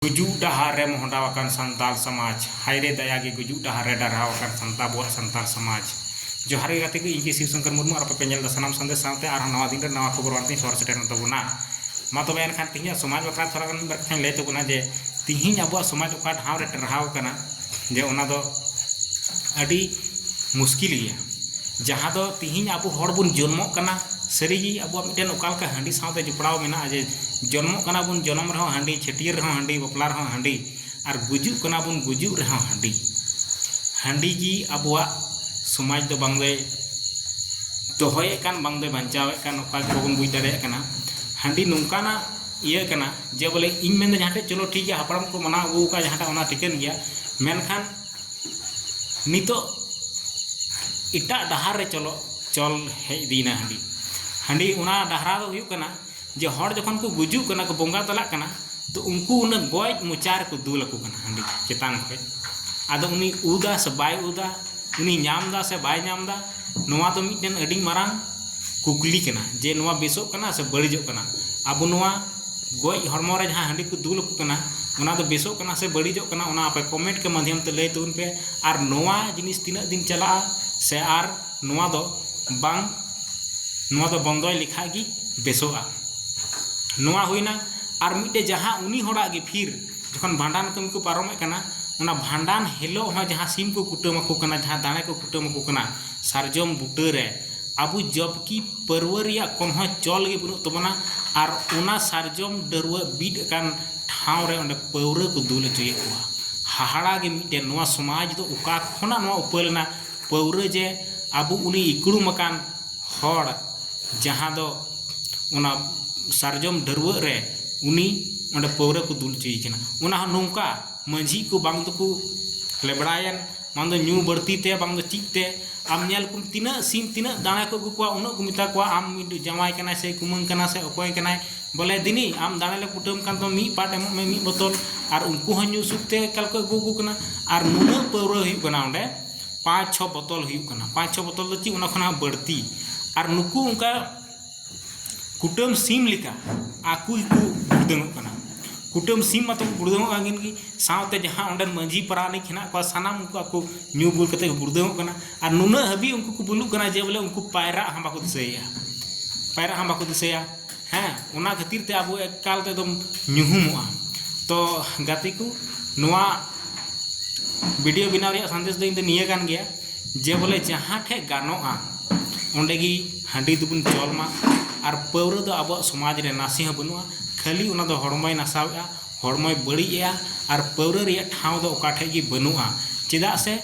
ᱜᱩᱡᱩᱜ ᱰᱟᱦᱟᱨ ᱨᱮ ᱢᱚᱦᱰᱟᱣ ᱟᱠᱟᱱ ᱥᱟᱱᱛᱟᱞ ᱥᱟᱢᱟᱡᱽ ᱦᱟᱭᱨᱮ ᱫᱟᱭᱟ ᱜᱮ ᱜᱩᱡᱩᱜ ᱰᱟᱦᱟᱨ ᱨᱮ ᱰᱟᱨᱦᱟᱣ ᱟᱠᱟᱱ ᱥᱟᱱᱛᱟᱞ ᱟᱵᱚᱣᱟᱜ ᱥᱟᱱᱛᱟᱞ ᱥᱟᱢᱟᱡᱽ ᱡᱚᱦᱟᱨ ᱜᱮ ᱜᱟᱛᱮ ᱠᱚ ᱤᱧ ᱜᱮ ᱥᱤᱵᱽ ᱥᱚᱝᱠᱚᱨ ᱢᱩᱨᱢᱩ ᱟᱨ ᱟᱯᱮ ᱯᱮ ᱧᱮᱞ ᱮᱫᱟ ᱥᱟᱱᱟᱢ ᱥᱟᱸᱫᱮᱥ ᱥᱟᱶᱛᱮ ᱟᱨᱦᱚᱸ ᱱᱟᱣᱟ ᱫᱤᱱ ᱨᱮ ᱱᱟᱣᱟ ᱠᱷᱚᱵᱚᱨ ᱟᱱ ᱛᱮᱧ ᱥᱚᱦᱚᱨ ᱥᱮᱴᱮᱨ ᱮᱱ ᱛᱟᱵᱚᱱᱟ ᱢᱟ ᱛᱚᱵᱮ ᱮᱱᱠᱷᱟᱱ ᱛᱮᱦᱮᱧᱟᱜ ᱥᱚᱢᱟᱡᱽ ᱵᱟᱠᱷᱨᱟ ᱛᱷᱚᱲᱟ ᱜᱟᱱ ᱢᱤᱫ ᱵᱟᱨ ᱠᱟᱛᱷᱟᱧ ᱞᱟᱹᱭ ᱛᱟᱵᱚᱱᱟ ᱡᱮ ᱛᱮᱦᱮᱧ ᱟᱵᱚᱣᱟᱜ ᱥᱚᱢᱟᱡᱽ ᱚᱠᱟ ᱰᱟᱦᱟᱨ ᱨᱮ ᱴᱟᱨᱦᱟᱣ ᱟᱠᱟᱱᱟ ᱡᱮ ᱚᱱᱟ ᱫᱚ ᱟᱹᱰᱤ ᱢᱩᱥᱠᱤᱞ ᱜᱮᱭᱟ ᱡᱟᱦᱟᱸ ᱫᱚ ᱛᱤᱦᱤᱧ ᱟᱵᱚ ᱦᱚᱲ ᱵᱚᱱ ᱡᱚᱱᱢᱚᱜ ᱠᱟᱱᱟ ᱥᱟᱹᱨᱤ ᱜᱮ ᱟᱵᱚᱣᱟᱜ ᱢᱤᱫᱴᱮᱱ ᱚᱠᱟ ᱞᱮᱠᱟ ᱦᱟᱺᱰᱤ ᱥᱟᱶᱛᱮ ᱡᱚᱯᱲᱟᱣ ᱢᱮᱱᱟᱜᱼᱟ ᱡᱮ ᱡᱚᱱᱢᱚᱜ ᱠᱟᱱᱟ ᱵᱚᱱ ᱡᱚᱱᱚᱢ ᱨᱮᱦᱚᱸ ᱦᱟᱺᱰᱤ ᱪᱷᱟᱹᱴᱭᱟᱹᱨ ᱨᱮᱦᱚᱸ ᱦᱟᱺᱰᱤ ᱵᱟᱯᱞᱟ ᱨᱮᱦᱚᱸ ᱦᱟᱺᱰᱤ ᱟᱨ ᱜᱩᱡᱩᱜ ᱠᱟᱱᱟ ᱵᱚᱱ ᱜᱩᱡᱩᱜ ᱨᱮᱦᱚᱸ ᱦᱟᱺᱰᱤ ᱦᱟᱺᱰᱤ ᱜᱮ ᱟᱵᱚᱣᱟᱜ ᱥᱚᱢᱟᱡᱽ ᱫᱚ ᱵᱟᱝ ᱫᱚᱭ ᱫᱚᱦᱚᱭᱮᱫ ᱠᱟᱱ ᱵᱟᱝ ᱫᱚᱭ ᱵᱟᱧᱪᱟᱣᱮᱫ ᱠᱟᱱ ᱚᱠᱟ ᱜᱮ ᱵᱟᱵᱚᱱ ᱵᱩᱡᱽ ᱫᱟᱲᱮᱭᱟᱜ ᱠᱟᱱᱟ ᱦᱟᱺᱰᱤ ᱱᱚᱝᱠᱟᱱᱟᱜ ᱤᱭᱟᱹ ᱠᱟᱱᱟ ᱡᱮ ᱵᱚᱞᱮ ᱤᱧ ᱢᱮᱱᱫᱟ ᱡᱟᱦᱟᱸ ᱴᱷᱮᱡ ᱪᱚᱞᱚ ᱴᱷᱤᱠ ᱜᱮᱭᱟ ᱦᱟᱯᱲᱟᱢ ᱠᱚ ᱢᱟᱱᱟᱣ ᱟᱹᱜᱩ ᱟᱠᱟᱫ ᱡᱟᱦᱟᱸᱴᱟᱜ ᱚᱱᱟ ᱴᱷᱤᱠᱟᱹᱱ ᱜᱮᱭᱟ ᱢᱮᱱᱠᱷᱟᱱ ᱱᱤᱛᱚᱜ ᱮᱴᱟᱜ ᱰᱟᱦᱟᱨ ᱨᱮ ᱪᱚᱞᱚ ᱪᱚᱞ ᱦᱮᱡ ᱤᱫᱤᱭᱮᱱᱟ ᱦᱟᱺᱰᱤ ᱦᱟᱺᱰᱤ ᱚᱱᱟ ᱰᱟᱦᱟᱨᱟ ᱫᱚ ᱦᱩᱭᱩᱜ ᱠᱟᱱᱟ ᱡᱮ ᱦᱚᱲ ᱡᱚᱠᱷᱚᱱ ᱠᱚ ᱜᱩᱡᱩᱜ ᱠᱟᱱᱟ ᱠᱚ ᱵᱚᱸᱜᱟ ᱛᱟᱞᱟᱜ ᱠᱟᱱᱟ ᱛᱚ ᱩᱱᱠᱩ ᱚᱱᱟ ᱜᱚᱡ ᱢᱚᱪᱟ ᱨᱮᱠᱚ ᱫᱩᱞ ᱟᱠᱚ ᱠᱟᱱᱟ ᱦᱟᱺᱰᱤ ᱪᱮᱛᱟᱱ ᱠᱷᱚᱡ ᱟᱫᱚ ᱩᱱᱤ ᱩᱫᱟ ᱥᱮ ᱵᱟᱭ ᱩᱫᱟ ᱩᱱᱤ ᱧᱟᱢ ᱮᱫᱟ ᱥᱮ ᱵᱟᱭ ᱧᱟᱢ ᱮᱫᱟ ᱱᱚᱣᱟ ᱫᱚ ᱢᱤᱫᱴᱮᱱ ᱟᱹᱰᱤ ᱢᱟᱨᱟᱝ ᱠᱩᱠᱞᱤ ᱠᱟᱱᱟ ᱡᱮ ᱱᱚᱣᱟ ᱵᱮᱥᱚᱜ ᱠᱟᱱᱟ ᱥᱮ ᱵᱟᱹᱲᱤᱡᱚᱜ ᱠᱟᱱᱟ ᱟᱵᱚ ᱱᱚᱣᱟ ᱜᱚᱡ ᱦᱚᱲᱢᱚ ᱨᱮ ᱡᱟᱦᱟᱸ ᱦᱟᱺᱰᱤ ᱠᱚ ᱫᱩᱞ ᱟᱠᱚ ᱠᱟᱱᱟ ᱚᱱᱟ ᱫᱚ ᱵᱮᱥᱚᱜ ᱠᱟᱱᱟ ᱥᱮ ᱵᱟᱹᱲᱤᱡᱚᱜ ᱠᱟᱱᱟ ᱚᱱᱟ ᱟᱯᱮ ᱠᱚᱢᱮᱱᱴ ᱠᱮ ᱢᱟᱫᱷᱭᱚᱢ ᱛᱮ ᱞᱟᱹᱭ ᱛᱟᱵᱚᱱ ᱯᱮ ᱟᱨ ᱱᱚᱣᱟ ᱡᱤᱱᱤᱥ ᱛᱤᱱᱟᱹᱜ ᱫᱤᱱ ᱪᱟᱞᱟᱜᱼᱟ ᱥᱮ ᱟᱨ ᱱᱚᱣᱟ ᱫᱚ ᱵᱟᱝ ᱱᱚᱣᱟ ᱫᱚ ᱵᱚᱱᱫᱚᱭ ᱞᱮᱠᱷᱟᱱ ᱜᱮ ᱵᱮᱥᱚᱜᱼᱟ ᱱᱚᱣᱟ ᱦᱩᱭᱮᱱᱟ ᱟᱨ ᱢᱤᱫᱴᱮᱱ ᱡᱟᱦᱟᱸ ᱩᱱᱤ ᱦᱚᱲᱟᱜ ᱜᱮ ᱯᱷᱤᱨ ᱡᱚᱠᱷᱚᱱ ᱵᱷᱟᱸᱰᱟᱱ ᱠᱟᱹᱢᱤ ᱠᱚ ᱯᱟᱨᱚᱢᱮᱫ ᱠᱟᱱᱟ ᱚᱱᱟ ᱵᱷᱟᱸᱰᱟᱱ ᱦᱤᱞᱳᱜ ᱦᱚᱸ ᱡᱟᱦᱟᱸ ᱥᱤᱢ ᱠᱚ ᱠᱩᱴᱟᱹᱢ ᱟᱠᱚ ᱠᱟᱱᱟ ᱡᱟᱦᱟᱸ ᱫᱟᱲᱮ ᱠᱚ ᱠᱩᱴᱟᱹᱢ ᱟᱠᱚ ᱠᱟᱱᱟ ᱥᱟᱨᱡᱚᱢ ᱵᱩᱴᱟᱹ ᱨᱮ ᱟᱵᱚ ᱡᱚᱵᱽᱠᱤ ᱯᱟᱹᱨᱣᱟᱹ ᱨᱮᱭᱟᱜ ᱠᱳᱱᱳ ᱦᱚᱸ ᱪᱚᱞ ᱜᱮ ᱵᱟᱹᱱᱩᱜ ᱛᱟᱵᱚᱱᱟ ᱟᱨ ᱚᱱᱟ ᱥᱟᱨᱡᱚᱢ ᱰᱟᱹᱨᱣᱟᱹᱜ ᱵᱤᱫ ᱟᱠᱟᱱ ᱴᱷᱟᱶ ᱨᱮ ᱚᱸᱰᱮ ᱯᱟᱹᱣᱨᱟᱹ ᱠᱚ ᱫᱩᱞ ᱦᱚᱪᱚᱭᱮᱫ ᱠᱚᱣᱟ ᱦᱟᱦᱟᱲᱟ ᱜᱮ ᱢᱤᱫᱴᱮᱱ ᱱᱚᱣᱟ ᱥᱚᱢᱟᱡᱽ ᱫᱚ ᱚᱠᱟ ᱠᱷᱚᱱᱟᱜ ᱱᱚᱣᱟ ᱩᱯᱟᱹᱞ ᱮᱱᱟ ᱯᱟᱹᱣᱨᱟᱹ ᱡᱮ ᱟᱵᱚ ᱩᱱᱤ ᱤᱠᱲᱩᱢ ᱟᱠᱟᱱ ᱦᱚᱲ ᱡᱟᱦᱟᱸ ᱫᱚ ᱚᱱᱟ ᱥᱟᱨᱡᱚᱢ ᱰᱟᱹᱨᱣᱟᱹᱜ ᱨᱮ ᱩᱱᱤ ᱚᱸᱰᱮ ᱯᱟᱹᱣᱨᱟᱹ ᱠᱚ ᱫᱩᱞ ᱦᱚᱪᱚᱭᱮ ᱠᱟᱱᱟ ᱚᱱᱟ ᱦᱚᱸ ᱱᱚᱝᱠᱟ ᱢᱟᱹᱡᱷᱤ ᱠᱚ ᱵᱟᱝ ᱫᱚᱠᱚ ᱞᱮᱵᱽᱲᱟᱭᱮᱱ ᱵᱟᱝ ᱫᱚ ᱧᱩ ᱵᱟᱹᱲᱛᱤ ᱛᱮ ᱵᱟᱝ ᱫᱚ ᱪᱮᱫ ᱛᱮ ᱟᱢ ᱧᱮᱞ ᱠᱚᱢ ᱛᱤᱱᱟᱹᱜ ᱥᱤᱢ ᱛᱤᱱᱟᱹᱜ ᱫᱟᱲᱮ ᱠᱚ ᱟᱹᱜᱩ ᱠᱚᱣᱟ ᱩᱱᱟᱹᱜ ᱠᱚ ᱢᱮᱛᱟ ᱠᱚᱣᱟ ᱟᱢ ᱢᱤᱫᱴᱤᱡ ᱡᱟᱶᱟᱭ ᱠᱟᱱᱟᱭ ᱥᱮ ᱠᱩᱢᱟᱹᱝ ᱠᱟᱱᱟᱭ ᱥᱮ ᱚᱠᱚᱭ ᱠᱟᱱᱟᱭ ᱵᱚᱞᱮ ᱫᱮᱱᱤ ᱟᱢ ᱫᱟᱲᱮ ᱞᱮ ᱠᱩᱴᱟᱹᱢ ᱠᱟᱱ ᱛᱟᱢᱟ ᱢᱤᱫ ᱯᱟᱴ ᱮᱢᱚᱜ ᱢᱮ ᱢᱤᱫ ᱵᱳᱛᱚᱞ ᱟᱨ ᱩᱱᱠᱩ ᱦᱚᱸ ᱧᱩ ᱥᱩᱫᱷ ᱛᱮ ᱮᱠᱟᱞ ᱠᱚ ᱟᱹᱜᱩ ᱟᱠᱚ ᱠᱟᱱᱟ ᱟᱨ ᱱᱩᱱᱟᱹᱜ ᱯᱟᱹᱣᱨᱟᱹ ᱦᱩᱭᱩᱜ ᱠᱟᱱᱟ ᱚᱸᱰᱮ ᱯᱟᱸᱪ ᱪᱷᱚ ᱵᱚᱛᱚᱞ ᱦᱩᱭᱩᱜ ᱠᱟᱱᱟ ᱯᱟᱸᱪ ᱪᱷᱚ ᱵᱚᱛᱚᱞ ᱫᱚ ᱪᱮᱫ ᱚᱱᱟ ᱠᱷᱚᱱ ᱦᱚᱸ ᱵᱟᱹᱲᱛᱤ ᱟᱨ ᱱᱩᱠᱩ ᱚᱱᱠᱟ ᱠᱩᱴᱟᱹᱢ ᱥᱤᱢ ᱞᱮᱠᱟ ᱟᱠᱚ ᱜᱮᱠᱚ ᱜᱩᱲᱫᱟᱹᱝᱚᱜ ᱠᱟᱱᱟ ᱠᱩᱴᱟᱹᱢ ᱥᱤᱢ ᱢᱟᱛᱚ ᱠᱚ ᱜᱩᱲᱫᱟᱹᱝᱚᱜ ᱠᱟᱱ ᱜᱮ ᱥᱟᱶᱛᱮ ᱡᱟᱦᱟᱸ ᱚᱸᱰᱮ ᱢᱟᱹᱡᱷᱤ ᱯᱟᱨᱟᱱᱤᱠ ᱦᱮᱱᱟᱜ ᱠᱚᱣᱟ ᱥᱟᱱᱟᱢ ᱩᱱᱠᱩ ᱟᱠᱚ ᱧᱩ ᱵᱩᱞ ᱠᱟᱛᱮ ᱠᱚ ᱜᱩᱲᱫᱟᱹᱝᱚᱜ ᱠᱟᱱᱟ ᱟᱨ ᱱᱩᱱᱟᱹᱜ ᱦᱟᱹᱵᱤᱡ ᱩᱱᱠᱩ ᱠᱚ ᱵᱩᱞᱩᱜ ᱠᱟᱱᱟ ᱡᱮ ᱵᱚᱞᱮ ᱩᱱᱠᱩ ᱯᱟᱭᱨᱟᱜ ᱦᱚᱸ ᱵᱟᱠᱚ ᱫᱤᱥᱟᱹᱭᱮᱜᱼᱟ ᱯᱟᱭᱨᱟᱜ ᱦᱚᱸ ᱵᱟᱠᱚ ᱫᱤᱥᱟᱹᱭᱟ ᱦᱮᱸ ᱚᱱᱟ ᱠᱷᱟᱹᱛᱤᱨ ᱛᱮ ᱟᱵᱚ ᱮᱠᱟᱞ ᱛᱮ ᱮᱠᱫᱚᱢ ᱧᱩᱦᱩᱢᱚᱜᱼᱟ ᱛᱚ ᱜᱟᱛᱮ ᱠᱚ ᱱᱚᱣᱟ ᱵᱷᱤᱰᱤᱭᱳ ᱵᱮᱱᱟᱣ ᱨᱮᱭᱟᱜ ᱥᱟᱸᱫᱮᱥ ᱫᱚ ᱤᱧ ᱫᱚ ᱱᱤᱭᱟᱹ ᱠᱟᱱ ᱜᱮᱭᱟ ᱡᱮ ᱵᱚᱞᱮ ᱡᱟᱦᱟᱸ ᱴᱷᱮᱡ ᱜᱟᱱᱚᱜᱼᱟ ᱚᱸᱰᱮ ᱜᱮ ᱦᱟᱺᱰᱤ ᱫᱚᱵᱚᱱ ᱪᱚᱞ ᱢᱟ ᱟᱨ ᱯᱟᱹᱣᱨᱟᱹ ᱫᱚ ᱟᱵᱚᱣᱟᱜ ᱥᱚᱢᱟᱡᱽ ᱨᱮ ᱱᱟᱥᱮ ᱦᱚᱸ ᱵᱟᱹᱱᱩᱜᱼᱟ ᱠᱷᱟᱹᱞᱤ ᱚᱱᱟ ᱫᱚ ᱦᱚᱲᱢᱚᱭ ᱱᱟᱥᱟᱣᱮᱫᱼᱟ ᱦᱚᱲᱢᱚᱭ ᱵᱟᱹᱲᱤᱡ ᱮᱫᱼᱟ ᱟᱨ ᱯᱟᱹᱣᱨᱟᱹ ᱨᱮᱭᱟᱜ ᱴᱷᱟᱶ ᱫᱚ ᱚᱠᱟ ᱴᱷᱮᱱ ᱜᱮ ᱵᱟᱹᱱᱩᱜᱼᱟ ᱪᱮᱫᱟᱜ ᱥᱮ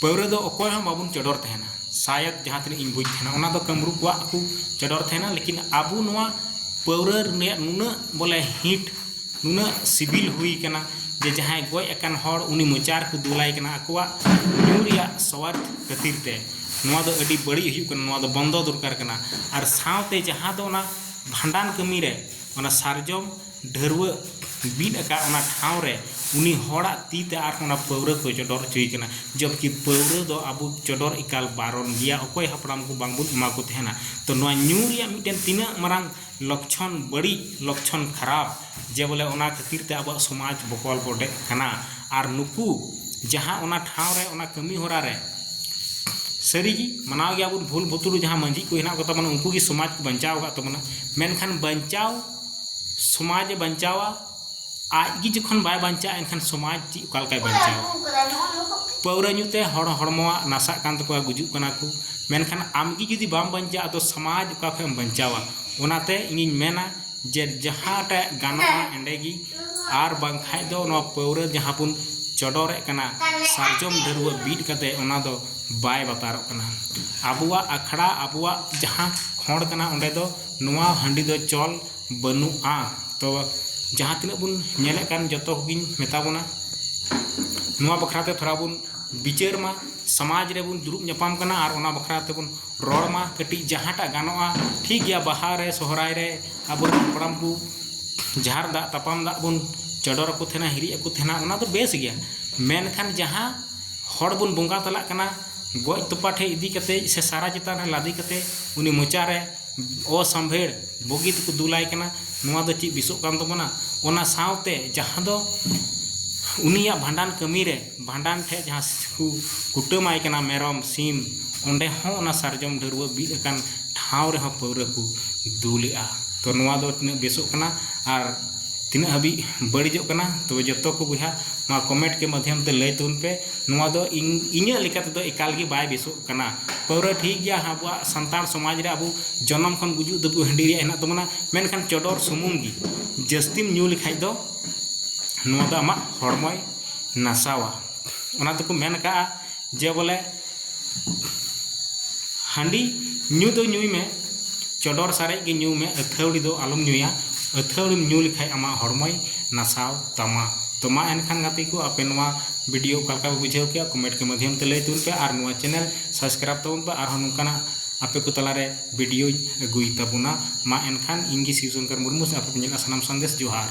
ᱯᱟᱹᱣᱨᱟᱹ ᱫᱚ ᱚᱠᱚᱭ ᱦᱚᱸ ᱵᱟᱵᱚᱱ ᱪᱚᱰᱚᱨ ᱛᱟᱦᱮᱱᱟ ᱥᱟᱭᱚᱫ ᱡᱟᱦᱟᱸ ᱛᱤᱱᱟᱹᱜ ᱤᱧ ᱵᱩᱡᱽ ᱛᱟᱦᱮᱱᱟ ᱚᱱᱟ ᱫᱚ ᱠᱟᱹᱢᱨᱩ ᱠᱚᱣᱟᱜ ᱠᱚ ᱪᱚᱰᱚᱨ ᱛᱟᱦᱮᱱᱟ ᱞᱮᱠᱤᱱ ᱟᱵᱚ ᱱᱚᱣᱟ ᱯᱟᱹᱣᱨᱟᱹ ᱨᱮᱭᱟᱜ ᱱᱩᱱᱟᱹᱜ ᱵᱚᱞᱮ ᱦᱤᱴ ᱱᱩᱱᱟᱹᱜ ᱥᱤᱵᱤᱞ ᱦᱩᱭ ᱟᱠᱟᱱᱟ ᱡᱮ ᱡᱟᱦᱟᱸᱭ ᱜᱚᱡ ᱟᱠᱟᱱ ᱦᱚᱲ ᱩᱱᱤ ᱢᱚᱪᱟ ᱨᱮᱠᱚ ᱫᱩᱞᱟᱭ ᱠᱟᱱᱟ ᱟᱠᱚᱣᱟᱜ ᱧᱩ ᱨᱮᱭᱟᱜ ᱥᱚᱣᱟᱫᱽ ᱠᱷᱟᱹᱛᱤᱨ ᱛᱮ ᱱᱚᱣᱟ ᱫᱚ ᱟᱹᱰᱤ ᱵᱟᱹᱲᱤᱡ ᱦᱩᱭᱩᱜ ᱠᱟᱱᱟ ᱱᱚᱣᱟ ᱫᱚ ᱵᱚᱱᱫᱚ ᱫᱚᱨᱠᱟᱨ ᱠᱟᱱᱟ ᱟᱨ ᱥᱟᱶᱛᱮ ᱡᱟᱦᱟᱸ ᱫᱚ ᱚᱱᱟ ᱵᱷᱟᱸᱰᱟᱱ ᱠᱟᱹᱢᱤ ᱨᱮ ᱚᱱᱟ ᱥᱟᱨᱡᱚᱢ ᱰᱷᱟᱹᱨᱣᱟᱹᱜ ᱵᱤᱫ ᱟᱠᱟᱫ ᱚᱱᱟ ᱴᱷᱟᱶ ᱨᱮ ᱩᱱᱤ ᱦᱚᱲᱟᱜ ᱛᱤ ᱛᱮ ᱟᱨᱦᱚᱸ ᱚᱱᱟ ᱯᱟᱹᱣᱨᱟᱹ ᱠᱚ ᱪᱚᱰᱚᱨ ᱚᱪᱚᱭᱮ ᱠᱟᱱᱟ ᱡᱚᱵᱽᱠᱤ ᱯᱟᱹᱣᱨᱟᱹ ᱫᱚ ᱟᱵᱚ ᱪᱚᱰᱚᱨ ᱮᱠᱟᱞ ᱵᱟᱨᱚᱱ ᱜᱮᱭᱟ ᱚᱠᱚᱭ ᱦᱟᱯᱲᱟᱢ ᱠᱚ ᱵᱟᱝ ᱵᱚᱱ ᱮᱢᱟ ᱠᱚ ᱛᱟᱦᱮᱱᱟ ᱛᱚ ᱱᱚᱣᱟ ᱧᱩ ᱨᱮᱭᱟᱜ ᱢᱤᱫᱴᱮᱱ ᱛᱤᱱᱟᱹᱜ ᱢᱟᱨᱟᱝ ᱞᱚᱠᱪᱷᱚᱱ ᱵᱟᱹᱲᱤᱡ ᱞᱚᱠᱪᱷᱚᱱ ᱠᱷᱟᱨᱟᱯ ᱡᱮ ᱵᱚᱞᱮ ᱚᱱᱟ ᱠᱷᱟᱹᱛᱤᱨ ᱛᱮ ᱟᱵᱚᱣᱟᱜ ᱥᱚᱢᱟᱡᱽ ᱵᱚᱠᱚᱞ ᱵᱚᱰᱮᱜ ᱠᱟᱱᱟ ᱟᱨ ᱱᱩᱠᱩ ᱡᱟᱦᱟᱸ ᱚᱱᱟ ᱴᱷᱟᱶ ᱨᱮ ᱚᱱᱟ ᱠᱟᱹᱢᱤ ᱦᱚᱨᱟ ᱨᱮ ᱥᱟᱹᱨᱤ ᱜᱮ ᱢᱟᱱᱟᱣ ᱜᱮᱭᱟ ᱵᱚᱱ ᱵᱷᱩᱞ ᱵᱷᱩᱛᱩᱲ ᱡᱟᱦᱟᱸ ᱢᱟᱹᱡᱷᱤ ᱠᱚ ᱦᱮᱱᱟᱜ ᱠᱚᱛᱟ ᱵᱚᱱᱟ ᱩᱱᱠᱩ ᱜᱮ ᱥᱚᱢᱟᱡᱽ ᱠᱚ ᱵᱟᱧᱪᱟᱣ ᱟᱠᱟᱫ ᱛᱟᱵᱚᱱᱟ ᱢᱮᱱᱠᱷᱟᱱ ᱵᱟᱧᱪᱟᱣ ᱥᱚᱢᱟᱡᱽ ᱮ ᱵᱟᱧᱪᱟᱣᱟ ᱟᱡ ᱜᱮ ᱡᱚᱠᱷᱚᱱ ᱵᱟᱭ ᱵᱟᱧᱪᱟᱜᱼᱟ ᱮᱱᱠᱷᱟᱱ ᱥᱚᱢᱟᱡᱽ ᱪᱮᱫ ᱚᱠᱟ ᱞᱮᱠᱟᱭ ᱵᱟᱧᱪᱟᱣᱟ ᱯᱟᱹᱣᱨᱟᱹ ᱧᱩ ᱛᱮ ᱦᱚᱲ ᱦᱚᱲᱢᱚᱣᱟᱜ ᱱᱟᱥᱟᱜ ᱠᱟᱱ ᱛᱟᱠᱚᱣᱟ ᱜᱩᱡᱩᱜ ᱠᱟᱱᱟ ᱠᱚ ᱢᱮᱱᱠᱷᱟᱱ ᱟᱢ ᱜᱮ ᱡᱩᱫᱤ ᱵᱟᱢ ᱵᱟᱧᱪᱟᱜᱼᱟ ᱛᱚ ᱥᱚᱢᱟᱡᱽ ᱚᱠᱟ ᱠᱷᱚᱱᱮᱢ ᱵᱟᱧᱪᱟᱣᱟ ᱚᱱᱟᱛᱮ ᱤᱧᱤᱧ ᱢᱮᱱᱟ ᱡᱮ ᱡᱟᱦᱟᱸᱴᱟᱜ ᱜᱟᱱᱚᱜᱼᱟ ᱚᱸᱰᱮ ᱜᱮ ᱟᱨ ᱵᱟᱝᱠᱷᱟᱱ ᱫᱚ ᱱᱚᱣᱟ ᱯᱟᱹᱣᱨᱟᱹ ᱡᱟᱦᱟᱸ ᱵᱚᱱ ᱪᱚᱰᱚᱨᱮᱫ ᱠᱟᱱᱟ ᱥᱟᱨᱡᱚᱢ ᱰᱷᱟᱹᱨᱣᱟᱹ ᱵᱤᱫ ᱠᱟᱛᱮ ᱚᱱᱟ ᱫᱚ ᱵᱟᱭ ᱵᱟᱛᱟᱨᱚᱜ ᱠᱟᱱᱟ ᱟᱵᱚᱣᱟᱜ ᱟᱠᱷᱲᱟ ᱟᱵᱚᱣᱟᱜ ᱡᱟᱦᱟᱸ ᱠᱷᱚᱸᱰ ᱠᱟᱱᱟ ᱚᱸᱰᱮ ᱫᱚ ᱱᱚᱣᱟ ᱦᱟᱺᱰᱤ ᱫᱚ ᱪᱚᱞ ᱵᱟᱹᱱᱩᱜᱼᱟ ᱛᱚ ᱡᱟᱦᱟᱸ ᱛᱤᱱᱟᱹᱜ ᱵᱚᱱ ᱧᱮᱞᱮᱫ ᱠᱟᱱ ᱡᱚᱛᱚ ᱠᱚᱜᱮᱧ ᱢᱮᱛᱟ ᱵᱚᱱᱟ ᱱᱚᱣᱟ ᱵᱟᱠᱷᱨᱟ ᱛᱮ ᱛᱷᱚᱲᱟ ᱵᱚᱱ ᱵᱤᱪᱟᱹᱨ ᱢᱟ ᱥᱚᱢᱟᱡᱽ ᱨᱮᱵᱚᱱ ᱫᱩᱲᱩᱵ ᱧᱟᱯᱟᱢ ᱠᱟᱱᱟ ᱟᱨ ᱚᱱᱟ ᱵᱟᱠᱷᱨᱟ ᱛᱮᱵᱚᱱ ᱨᱚᱲ ᱢᱟ ᱠᱟᱹᱴᱤᱡ ᱡᱟᱦᱟᱸᱴᱟᱜ ᱜᱟᱱᱚᱜᱼᱟ ᱴᱷᱤᱠ ᱜᱮᱭᱟ ᱵᱟᱦᱟ ᱨᱮ ᱥᱚᱦᱚᱨᱟᱭ ᱨᱮ ᱟᱵᱚ ᱨᱮᱱ ᱦᱟᱯᱲᱟᱢ ᱠᱚ ᱡᱷᱟᱨ ᱫᱟᱜ ᱛᱟᱯᱟᱱ ᱫᱟᱜ ᱵᱚᱱ ᱪᱚᱰᱚᱨ ᱟᱠᱚ ᱛᱟᱦᱮᱱᱟ ᱦᱤᱨᱤᱡ ᱟᱠᱚ ᱛᱟᱦᱮᱱᱟ ᱚᱱᱟ ᱫᱚ ᱵᱮᱥ ᱜᱮᱭᱟ ᱢᱮᱱᱠᱷᱟᱱ ᱡᱟᱦᱟᱸ ᱦᱚᱲ ᱵᱚᱱ ᱵᱚᱸᱜᱟ ᱛᱟᱞᱟᱜ ᱠᱟᱱᱟ ᱜᱚᱡ ᱛᱚᱯᱟ ᱴᱷᱮᱱ ᱤᱫᱤ ᱠᱟᱛᱮᱫ ᱥᱮ ᱥᱟᱨᱟ ᱪᱮᱛᱟᱱ ᱨᱮ ᱞᱟᱫᱮ ᱠᱟᱛᱮᱫ ᱩᱱᱤ ᱢᱚᱪᱟ ᱨᱮ ᱚᱥᱟᱢᱵᱷᱮᱲ ᱵᱩᱜᱤ ᱛᱮᱠᱚ ᱫᱩᱞᱟᱭ ᱠᱟᱱᱟ ᱱᱚᱣᱟ ᱫᱚ ᱪᱮᱫ ᱵᱮᱥᱚᱜ ᱠᱟᱱ ᱛᱟᱵᱚᱱᱟ ᱚᱱᱟ ᱥᱟᱶᱛᱮ ᱡᱟᱦᱟᱸ ᱫᱚ ᱩᱱᱤᱭᱟᱜ ᱵᱷᱟᱸᱰᱟᱱ ᱠᱟᱹᱢᱤ ᱨᱮ ᱵᱷᱟᱸᱰᱟᱱ ᱴᱷᱮᱫ ᱡᱟᱦᱟᱸ ᱠᱚ ᱠᱩᱴᱟᱹᱢ ᱟᱭ ᱠᱟᱱᱟ ᱢᱮᱨᱚᱢ ᱥᱤᱢ ᱚᱸᱰᱮ ᱦᱚᱸ ᱚᱱᱟ ᱥᱟᱨᱡᱚᱢ ᱰᱷᱟᱹᱨᱣᱟᱹᱜ ᱵᱤᱫ ᱟᱠᱟᱱ ᱴᱷᱟᱶ ᱨᱮᱦᱚᱸ ᱯᱟᱹᱣᱨᱟᱹ ᱠᱚ ᱫᱩᱞᱮᱫᱼᱟ ᱛᱚ ᱱᱚᱣᱟ ᱫᱚ ᱛᱤᱱᱟᱹᱜ ᱵᱮᱥᱚᱜ ᱠᱟᱱᱟ ᱟᱨ ᱛᱤᱱᱟᱹᱜ ᱦᱟᱹᱵᱤᱡ ᱵᱟᱹᱲᱤᱡᱚᱜ ᱠᱟᱱᱟ ᱛᱚᱵᱮ ᱡᱚᱛᱚ ᱠᱚ ᱵᱚᱭᱦᱟ ᱱᱚᱣᱟ ᱠᱚᱢᱮᱱᱴ ᱠᱮ ᱢᱟᱫᱽᱫᱷᱚᱢ ᱛᱮ ᱞᱟᱹᱭ ᱛᱟᱵᱚᱱ ᱯᱮ ᱱᱚᱣᱟ ᱫᱚ ᱤᱧ ᱤᱧᱟᱹᱜ ᱞᱮᱠᱟ ᱛᱮᱫᱚ ᱮᱠᱟᱞ ᱜᱮ ᱵᱟᱭ ᱵᱮᱥᱚᱜ ᱠᱟᱱᱟ ᱯᱟᱹᱣᱨᱟᱹ ᱴᱷᱤᱠ ᱜᱮᱭᱟ ᱟᱵᱚᱣᱟᱜ ᱥᱟᱱᱛᱟᱲ ᱥᱚᱢᱟᱡᱽ ᱨᱮ ᱟᱵᱚ ᱡᱚᱱᱚᱢ ᱠᱷᱚᱱ ᱜᱩᱡᱩᱜ ᱫᱷᱟᱹᱵᱤᱡ ᱦᱟᱺᱰᱤ ᱨᱮᱭᱟᱜ ᱦᱮᱱᱟᱜ ᱛᱟᱵᱚᱱᱟ ᱢᱮᱱᱠᱷᱟᱱ ᱪᱚᱰᱚᱨ ᱥᱩᱢᱩᱝ ᱜᱮ ᱡᱟᱹᱥᱛᱤᱢ ᱧᱩ ᱞᱮᱠᱷᱟᱱ ᱫᱚ ᱱᱚᱣᱟ ᱫᱚ ᱟᱢᱟᱜ ᱦᱚᱲᱢᱚᱭ ᱱᱟᱥᱟᱣᱟ ᱚᱱᱟ ᱛᱮᱠᱚ ᱢᱮᱱ ᱟᱠᱟᱫᱼᱟ ᱡᱮ ᱵᱚᱞᱮ ᱦᱟᱺᱰᱤ ᱧᱩ ᱫᱚ ᱧᱩᱭ ᱢᱮ ᱪᱚᱰᱚᱨ ᱥᱟᱨᱮᱡ ᱜᱮ ᱧᱩᱭ ᱢᱮ ᱟᱹᱛᱷᱟᱹᱣᱲᱤ ᱫᱚ ᱟᱞᱚᱢ ᱧᱩᱭᱟ ᱟᱹᱛᱷᱟᱹᱣᱲᱤᱢ ᱧᱩ ᱞᱮᱠᱷᱟᱱ ᱟᱢᱟᱜ ᱦᱚᱲᱢᱚᱭ ᱱᱟᱥᱟᱣ ᱛᱟᱢᱟ ᱛᱚ ᱢᱟ ᱮᱱᱠᱷᱟᱱ ᱜᱟᱛᱮ ᱠᱚ ᱟᱯᱮ ᱱᱚᱣᱟ ᱵᱷᱤᱰᱤᱭᱳ ᱚᱠᱟ ᱞᱮᱠᱟ ᱯᱮ ᱵᱩᱡᱷᱟᱹᱣ ᱠᱮᱫᱼᱟ ᱠᱚᱢᱮᱱᱴ ᱠᱚ ᱢᱟᱫᱽᱫᱷᱚᱢ ᱛᱮ ᱞᱟᱹᱭ ᱛᱟᱵᱚᱱ ᱯᱮ ᱟᱨ ᱱᱚᱣᱟ ᱪᱮᱱᱮᱞ ᱥᱟᱵᱥᱠᱨᱟᱭᱤᱵᱽ ᱛᱟᱵᱚᱱ ᱯᱮ ᱟᱨᱦᱚᱸ ᱱᱚᱝᱠᱟᱱᱟᱜ ᱟᱯᱮ ᱠᱚ ᱛᱟᱞᱟᱨᱮ ᱵᱷᱤᱰᱤᱭᱳᱧ ᱟᱹᱜᱩᱭ ᱛᱟᱵᱚᱱᱟ ᱢᱟ ᱮᱱᱠᱷᱟᱱ ᱤᱧ ᱜᱮ ᱥᱤᱵ ᱥᱚᱝᱠᱚᱨ ᱢᱩᱨᱢᱩ ᱟᱯᱮ ᱯᱮ ᱧᱮᱞᱮᱫᱼᱟ ᱥᱟᱱᱟᱢ ᱥᱟᱸᱫᱮᱥ ᱡᱚᱦᱟᱨ